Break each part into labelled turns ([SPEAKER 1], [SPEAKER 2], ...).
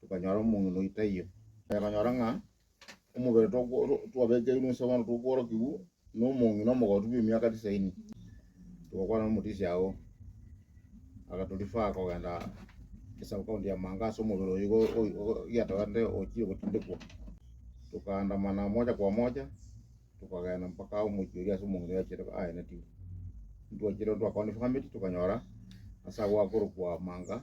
[SPEAKER 1] tokanyora omong'ina oyo taiyo. Tokanyora ng'a omobere twabekeirwe inse bono tokorokigwa nomong'ina omogotu bw'emiaka tisaini. Togakwana nomotisi agwo agatorifaa kogenda esub county ya Manga ase omobere oyo igo giatogenete ochire gotindekwa. Tokaandamana moja kwa moja tokagenda mpaka omochie oria ase omong'ina oria achire aenetigwe. Ntwachire ntwa confirmeti tokanyora ase agwo akorokwa Manga.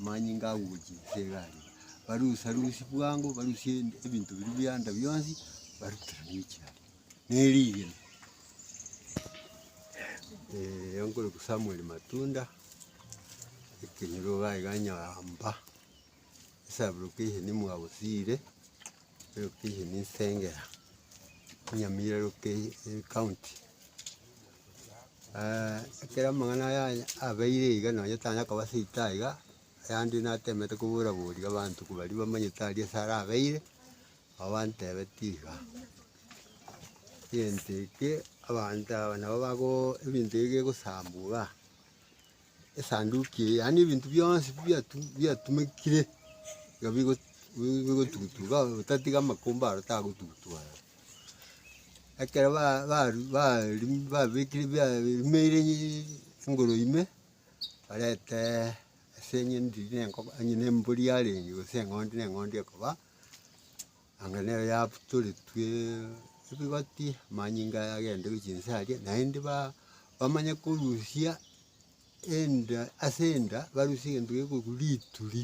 [SPEAKER 2] Amanyinga agochi ase egari, barusarusie bwango, barusie ebinto biria bia enda bionsi, barutire emichi aria, na erigena. Eeh onkoroku Samuel Matunda, ekenyoro iga iga Nyaramba, esaborokia eye nimwabo Siire. Lokeshen ne Isengera, Nyamira loke county, ekero amang'ana aya aya abeire iga nonye tanya koba seito aye iga, ayande natemete kobora boria abanto baria bamanyete aria ase arabeire, nabo bantebeti iga, egento eke abanto aba nabo bago ebinto ebi bigosambugha. Esanduki eye, yaani ebinto bionsi biatumekire iga bigotugutwa iga, otatiga amakumba aro tagotugutwa aya. Ekero babekire barimeire engoro ime, barente ase eng'endi onye nembori yarenge gose eng'ondi na eng'ondi ekoba. Anga nero yabutoretwe ebigoti, amanyinga aya agende gochia inse aria, naende ba- bamanye korusia enda ase enda barusie egento gekorokwa rituri,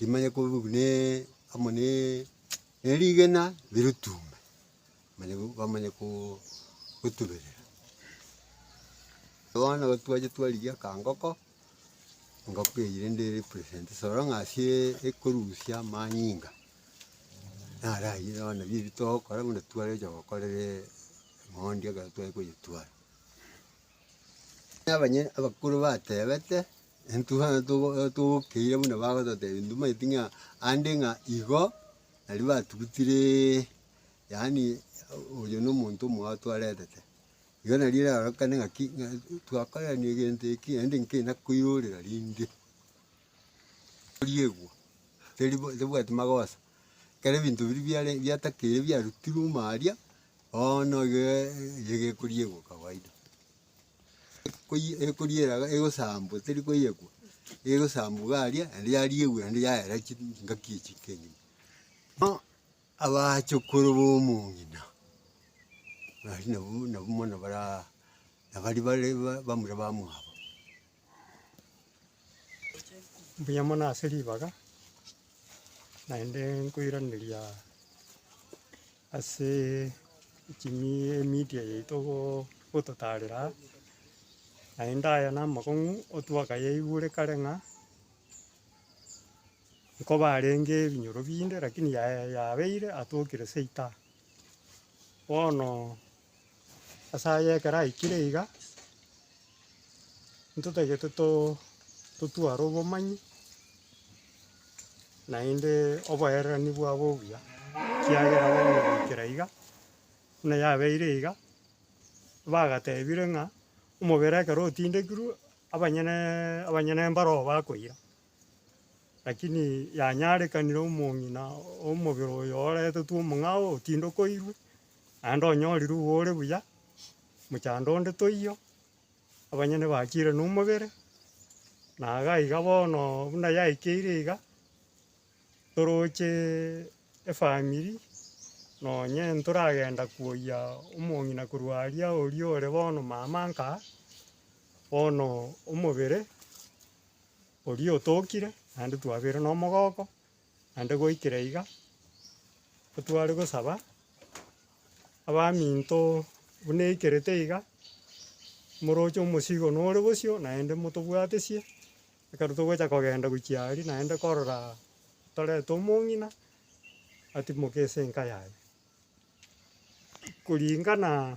[SPEAKER 2] rimanye korokwa na amo na na erigena rirutume, manya ko bamanye ko- kotuberera. Bono twacha twarigia ka ngoko. Engoko eyire nde represent ase ororo ng'a ase ekorusia amanyinga, naro ayio nabo nabio ebi togokora buna tware gocha gokorere mogondo ekero tware koyetwara. Abanye abakoro batebete intwe bono togo togokeire buna bagototebia intwe tobwati ng'a ande ng'a igo naria batugutireee yaani oyo nomonto omoa twaretete. Igo nario erarorekane ng'aki, ng'a twakorerania egento eke, naende nkenda koirorera rinde. Riegwa, teri teribwati magoso, ekero ebinto biria biare biatakeire biarutirwe omo aria, bono iga eyio ekoriegwa kawaida. Ekoyi ekoriera iga egosambwa teri koyegwa, egosambwa iga aria, naende yariegwa naende yaera chi ngaki echi kegima. Bono. Abachukuru b'omong'ina baria nabwo nabwo mono bara nabari bare bamura bamwabo.
[SPEAKER 3] Mbuya mono ase ribaga, naende nkoiraneria ase chimi emedia yaito goo gototarera aa, naende aya namang'u otwakayaigure kare ng'a. nkobarenge ebinyoro binde, rakini yaye yabeire atokire seita. Bono ase aya ekero aikire iga, ntotagete too totware obomanyi naende oboererani bwabo obuya, ekiagera bono goikera iga, buna yabeire iga, bagatebire ng'a omobere ekero otindekirwe, abanyeneee abanyene mbaroo bakoira, Lakini yanyarekanire omong'ina omobere oyo oretetwe omong'ao otindokoirwe, naende onyorire igo ore buya, mochando onde toiyo, abanyene bachire nomobere, na iga iga bono buna yaikeire iga, torocheeee efamiri nonye ntoragenda koyia omong'ina korwa aria oria ore bono mama nkaa, bono omobere Oria otookire, naende twabeire nomogooko, naende goikera iga, ntitware gosaba abaminto buna eikerete iga, moroche omosigo nore bosio, naende motobwatesie, ekero togocha kogenda gochia aria naende korora torete omong'ina, atimoke ase enka yaye. Kuringana,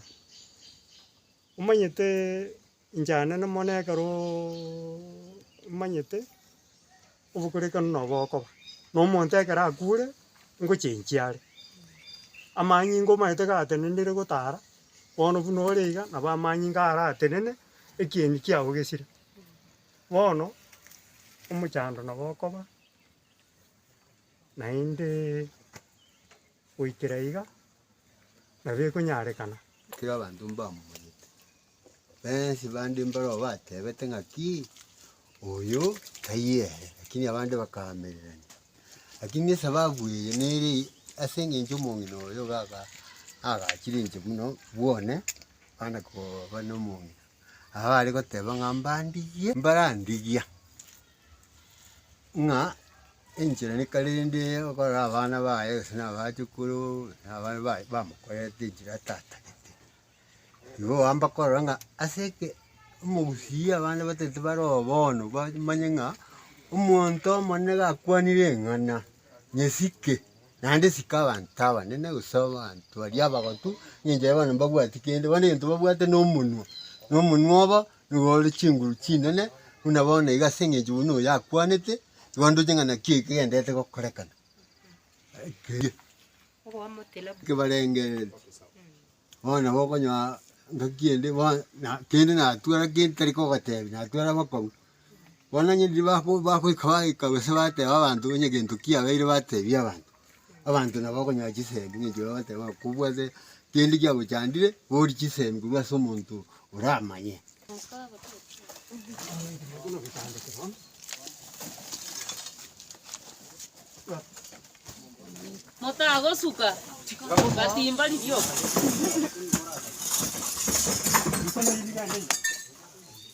[SPEAKER 3] omanyeteee. Inch'aane nomono ekero omanyete obokorekano nobo okoba, na omonto ekero akure, ngochenchia are. Amanyinga omanyete gatenenire gotara, bono buna ore iga nabo amanyinga aratenene ekieni kiago gesire. Bono, omochando nabo okoba, naende. Goikera iga, nabo ekonyarekana. Ekero abanto
[SPEAKER 2] mbamomanyete, bensi bande mbarabwo bateebete ng'aki, Oyo taiyo ere. Lakini abande bakaamererania, Lakini esababu eye nere ase engencho omong'ina oyo iga aga agachire inche buna bwone bana koba nomong'ina. Abare goteeba ng'a mbandigie, mbarandigia. ng'a enchera neka rende okorora abana baye gose na abachukuru na abana baye bamokorerete enchera atatagete. Igo oamba korora ng'a ase eke omogusii abande batagete bare oo bono bamanye ng'a omonto omonene gakwanire eng'ana nyesike naende sika abanto abanene gose abanto baria abagotu ng'a enchera bono mbabwati kende. Bono egento babwate na omonwa, na omonwa obo Nigo ore chinguru chinene buna bono iga, ase engencho buna oyo akwanete, igo ndoche ng'a naki eke genderete gokorekana keria kebarengereri. Bono nabo okonyora ngaki ende bono na kende natwara kende tari kogotebi, natwara bokongu. Bono onye riria bako bagoika baika gose bateba abanto onye gento kiabeire batebia abanto, Abanto nabo bakonyora chisemi ng'a inche bagoteeba ng'a kobwate kende kiagochandire borie chisemi korwa ase omonto oramanye.
[SPEAKER 4] Motagosuka gatimba rioka.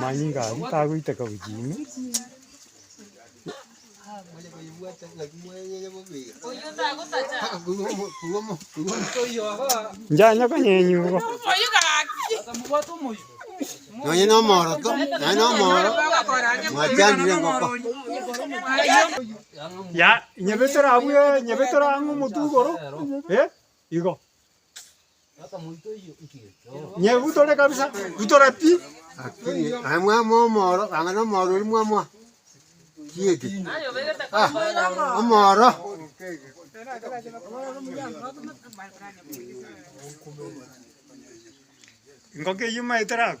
[SPEAKER 3] Manyinga aria tagoiteka gochia ime. Njanye konyenywa igo.
[SPEAKER 2] Nonye na omoroto, nonye na omoro, mwachandire engoko.
[SPEAKER 3] Ya, inyebetere abwo, inyebetere ang'e omotwe igoro. Eh? Igo. Nye gutore kabisa, gutore pi. Lakini aye
[SPEAKER 2] mwama omoro ang'ana omoro ori mwama kiege ah, omoro
[SPEAKER 3] Ingoke yuma eterago.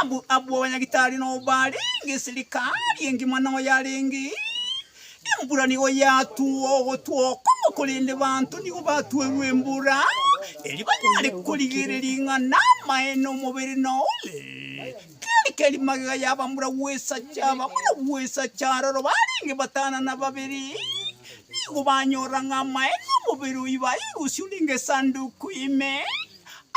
[SPEAKER 3] Abu abwo abanyagitari nobarenge eserikari engima noyarenge embura nigo yatugwa ogotwa okong'u korende banto nigo batuerwe embura eri banyare korigereria ring'ana amaene omobere nore keri keri magega yabamura bwesacha abamura bwesacha aroro barenge batana na babere nigo banyora ng'a amaene omobere oyi bairusio renge esanduku ime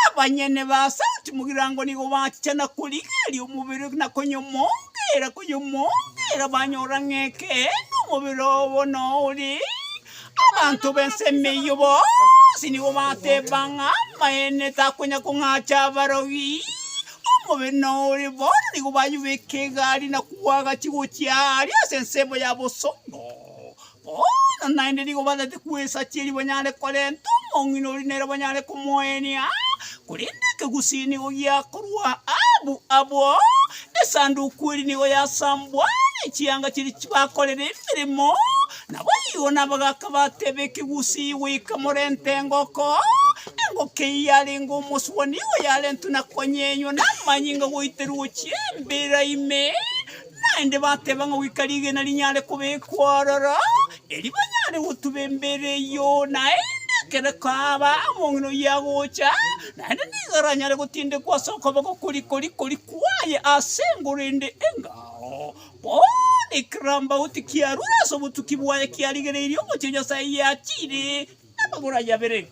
[SPEAKER 3] Abanyene ba Sauti Mugirango nigo bachicha na korigereria omobere na konyomongeera konyomongeera banyora ng'a ekeene omobere obo noore. Abanto b'ensemo eyio bonsi nigo bateeba ng'a amaene takonya kong'acha abarogi. Omobere noore bono nigo bayobeka egari na koagachia gochia aria ase ensemo ya bosongo. Bono naende nigo bataete kwesachia erio banyare korenta omong'ina oria nere banyare komoenia, korende ekegusii nigo giakorwa abu abo, Esanduku eria nigo yasambwa, ne chianga chiria chibakorera emeremo, naboigo nabagaaka bateba ekegusii goika morente engoko, engoko eyio yarenge omosubwa nigo yarentwe na konyenywa namanyinga goiterwa gochia embera ime, Naende bateba ng'a goika rigena rinyare kobekwa ororo, erio banyare gotuba embere eyio, naende ekero kwaaba omong'ina oyio agocha, naende nigo aranyare gotindekwa ase okoboko koria koria koria kwaye ase engoro ende engao, bono ekegambauti kiarure ase obotuki bwaye kiarigereirie omochie Nyasae yachiire namagoro aye abere.